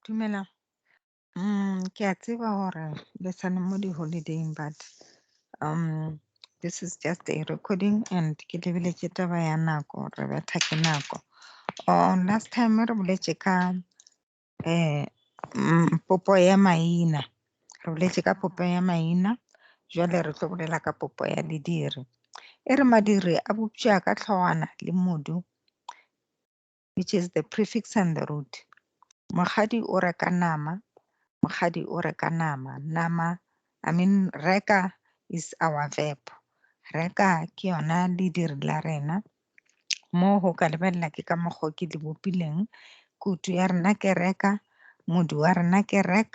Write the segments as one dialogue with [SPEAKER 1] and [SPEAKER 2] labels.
[SPEAKER 1] Dumelang. Ke a tseba hore le sa le mo di-holiday-ing but this is just a recording and ke lebile ke taba ya nako, re betha ke nako. Last time re boletše ka. Eh, mm, popo ya maina. Re boletše ka popo ya maina, jwale re tlo bolela ka popo ya lediri. E re madiri a bopša ka tlhogwana le modu, which is the prefix and the root. Mokgadi o reka nama, mokgadi o reka nama, nama, I mean reka is our verb. Reka ke yona lediri la rena. Moo go ka lebelela ke ka mokgo ke le bopileng, kutu ya rena ke reka, modu wa rena ke rek,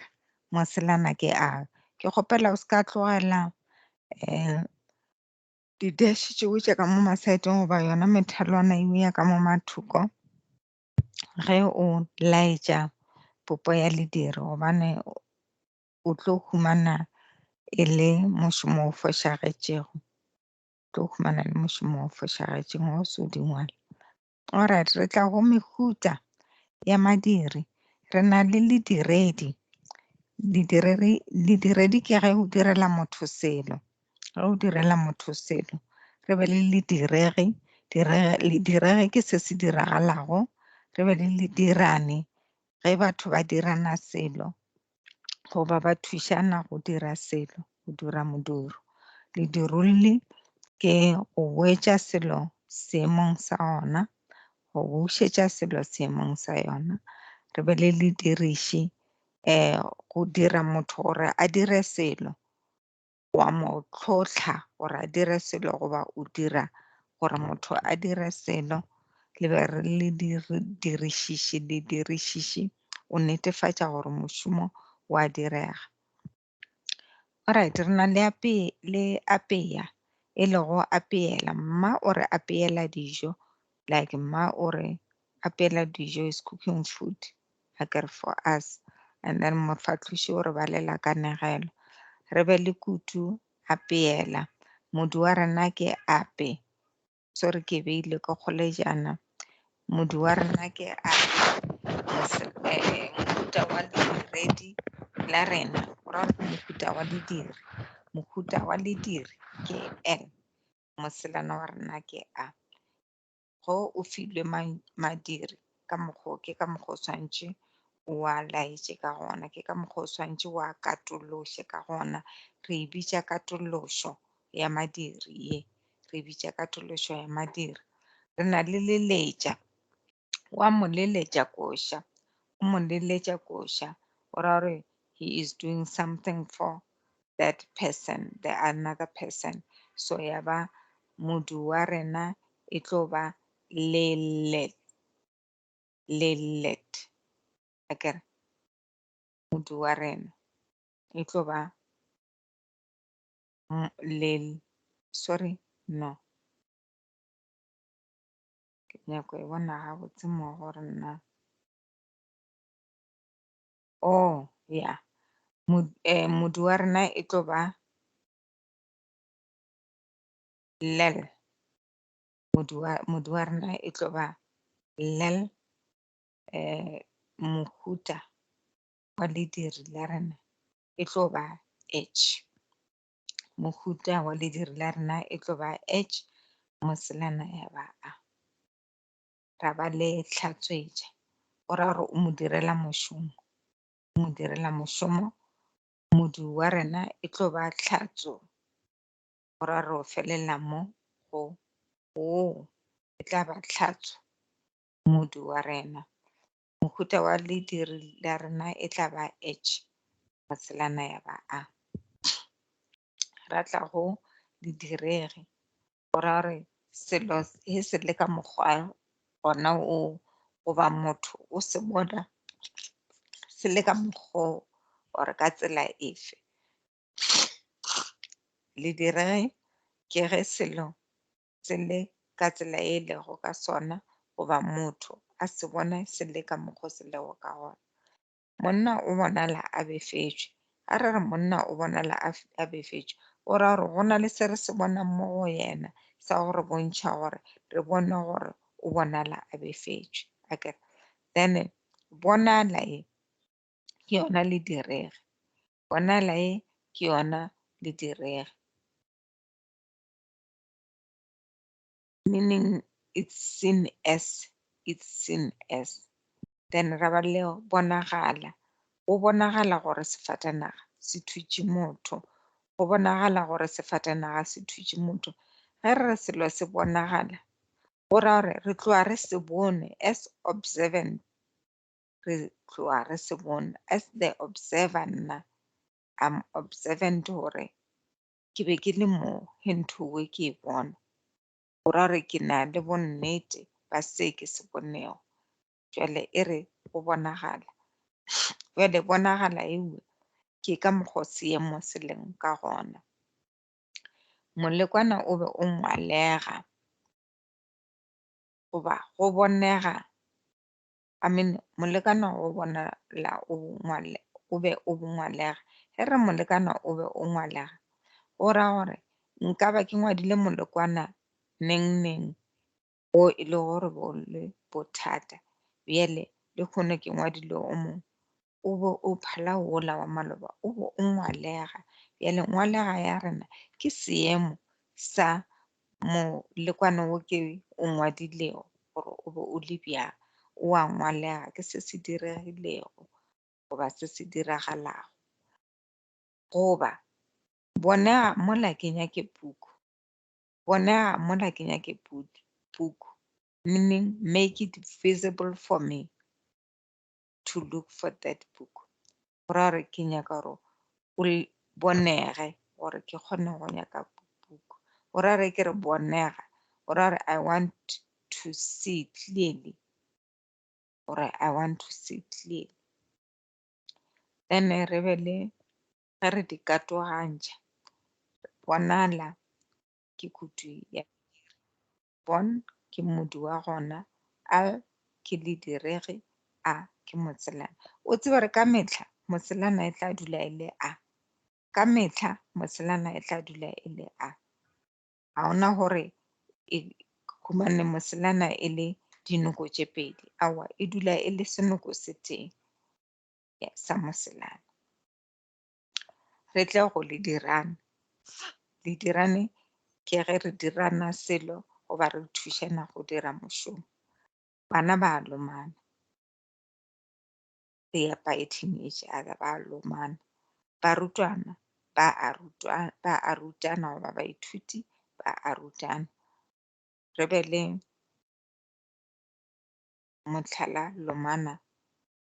[SPEAKER 1] moselana ke a. Ke kgopela o seka tlogela di dash tše o tše ka mo masaeteng goba yona methelwana eo ya ka mo mathoko ge o laetša popo ya lediri gobane o tlo humana e le mošomo o fošagetšego. tlo humana le mošomo o fošagetšeng o se o dingwala orit re tla go mehuta ya madiri re na le lediredi lediredi ke ge o direla motho selo ge o direla motho selo re be le lediregi lediregi ke se se diragalago re be le ledirane ge batho ba dirana selo goba ba thušana go dira selo go dira modiro. Ledirolli ke go wetša selo seemong sa ona go bušetša selo seemong sa yona. Re be le lediriši go dira motho gore a dire selo. wa mo tlhotlha gore a dire selo goba o dira gore motho a dire selo le be re le dirišiši le dirišiši o netefatša gore mošomo wa direga orit re na le le apeya e lego apeela mma o re apeela dijo like mma o re apela dijo is cooking food a ke re for us and then mofahloši o re balela kanegelo re be le kutu apeela modu wa rena ke ape so re ke beile ke kgolejana modu wa rena ke ape eh, mohuta wa lediredi la rena ra mohuta wa lediri mohuta wa lediri ke n moselana wa rena ke a Ge o filwe madiri ka mokgwa o, ke ka mokgwa o swanetše o a laetše ka gona, ke ka mokgwa o swanetše o a katolloše ka gona. Re e bitša katollošo ya madiri ye, re e bitša katollošo ya madiri. Re na le leletša, wa mo leletša koša, o mo leletša koša o ra gore he is doing something for that person, the another person. So ya ba modu wa rena e tlo ba lillet, lillet. Akere modu wa rena e tlo ba lil, sorry, no. Ke nyako e bona gabotse mo gore nna. Oh, ya. Modu wa rena e tlo ba Lel. Modu wa, modu wa rena e tlo ba Lel. Mohuta wa lediri la rena e tlo ba H. Mohuta wa lediri la rena e tlo ba H, moselana ya ba A. ra ba le hlatswetša. O ra gore o mo direla mošomo, o mo direla mošomo, modu wa rena e tlo ba tlhatso. O ra gore o felelela mo go woo e tla ba tlhatso, modu wa rena. Mohuta wa lediri la rena e tla ba H, ya ba A. ra tla go di direge go ra gore selo he se le ka mokgwa gona o goba motho o se bona se le ka mokgo or ka tsela efe. Le direge ke ge selo se le ka tsela e lego ka sona goba motho a se bona se le ka mokgo se lego ka gona. monna o bonala a befetšwe. Ga re re monna o bonala a a befetšwe, go ra gore go na le se re se bonang mo go yena sa go re bontšha gore re bone gore o bonala a befetšwe. A ke re? Then bonala e ke yona le direge, bonala e ke yona le direge. Meaning, It's seen as, It's seen as. Then ra ba le bonagala. Go bonagala gore sefatanaga se thutše motho. Go bonagala gore sefatanaga se thutše motho. Ge re re selo se bonagala, go ra gore re tloga re se bone as observant. Re tloga re se bone as the observer nna. I'm observant gore Ke be ke le mo ge ntho we ke e bona, go ra gore ke na le bonnete ba se ke se bonego. Bjale e re go bonagala. Bjale bonagala ewe ke ka mokgo seemo se leng ka gona. Molekwana o be o ngwalega goba go bonega I mean, molekane go bona la o ngwale, o be o bongwalega. Ge re molekane o be o ngwalega, go ra gore nka ba ke ngwadile molekwana neng neng o e le gore bo le bothata, bjale le kgone ke ngwadile o mongwe. O be o phala wola wa maloba o be o ngwalega. Bjale ngwalega ya rena ke seemo sa molekwane wo ke o ngwadilego gore o be o le bjang. O a ngwalega ke se se diregilego goba se se diragalago. Goba bonega mola ke nyake puku, bonega mola ke nyake puku, meaning make it visible for me. to look for that book gore a re ke nyaka gore o bonege gore ke kgone go nyaka book gore a re ke re bonega gore a re i want to see clearly gore i want to see clearly then re be le ge re di katogantšha bonala ke kutu ya Bon ke mmodi wa gona, Al ke lediregi, A ke motselana. O tseba gore ka mehla motselana e tla dula e le A. Ka mehla motselana e tla dula e le A. Ga ona gore e humane motselana e le dinoko tše pedi, aowa e dula e le senoko se tee sa motselana. re tle go le dirane le dirane ke ge re dirana selo goba re thušana go dira mošomo bana ba lomana re ya biting each other ba lomana barutwana ba a rutwana ba a rutana goba baithuti ba a rutana re be le mohlala lomana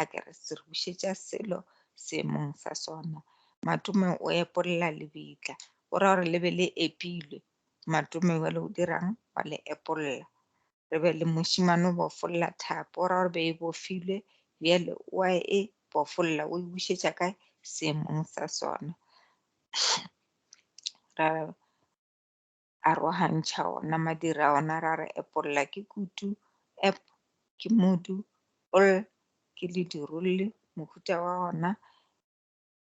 [SPEAKER 1] a ke re se re bušetša selo seemong sa sona. Matome o epolla lebitla, o ra gore le be le epilwe. Matome jale o dirang? Wa le epolla. Re be le mošimane o bofolla thapo, o ra gore be e bofilwe, bjale wa e bofolla, o e bušetša kae? Seemong sa sona. Ra a rogantšha ona madira a ona ra re epolla ke kutu ep ke mudu ol ke ledirolli mohuta wa ona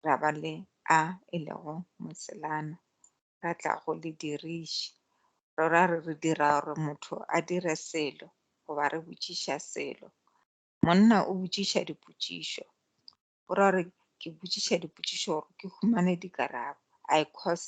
[SPEAKER 1] ra ba le a e lego moselana ra tla go le diriši ro ra re re dira gore motho a dire selo goba re botšiša selo monna o botšiša dipotšišo o ra re ke botšiša dipotšišo gore ke humane dikarabo i cause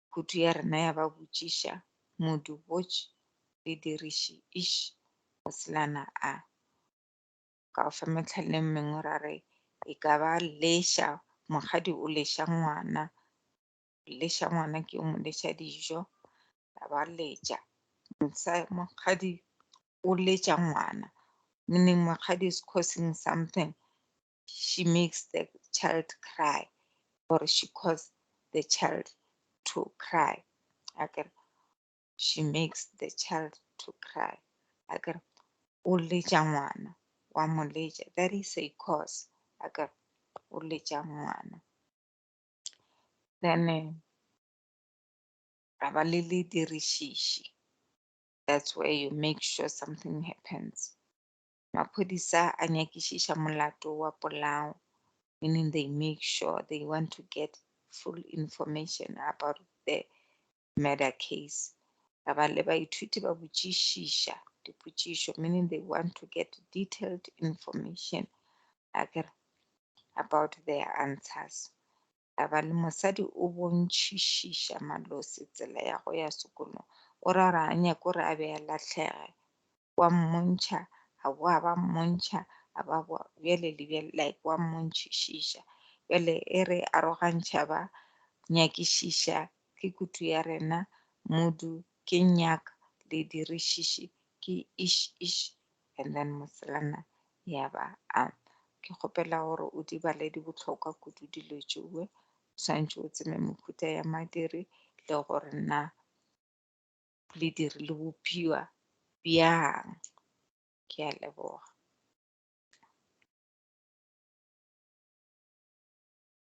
[SPEAKER 1] Kutu ya rena ya ba botšiša, Modu botš, le diriši iš, go selana a. Ka go fa mehlaleng mengwe ra re, e ka ba leša, mokgadi o leša ngwana, o leša ngwana ke o mo leša dijo, ra ba letša, msa, mokgadi o letša ngwana, meaning mokgadi is causing something, she makes the child cry or she cause the child to cry akere she makes the child to cry akere o letša ngwana wa mo letša that is a cause akere o letša ngwana then eh, ra ba le le dirišiši that's where you make sure something happens Maphodisa a nyakišiša molato wa polao, meaning they make sure they want to get full information about the murder case. Ra ba le baithuti ba botšišiša dipotšišo, meaning they want to get detailed information about their answers. Taba le mosadi o bontšhišiša Malosi tsela ya go ya sekolong. O ra gore a nyake gore a be a lahlege. Wa mmontšha, a boa ba mmontšha, a ba boa bjale le bjale like wa mmontšhišiša. Bjale e re arogantšha ba nyakišiša ke kutu ya rena, Modu, ke nyak, le dirišiši, ke ish ish, and then Moselana ya ba a ke kgopela gore o di bale di bohlokwa kudu dilo tšewe swantšhe o tseme mokhuta ya madiri le gore na lediri le bophiwa bjang ke a leboga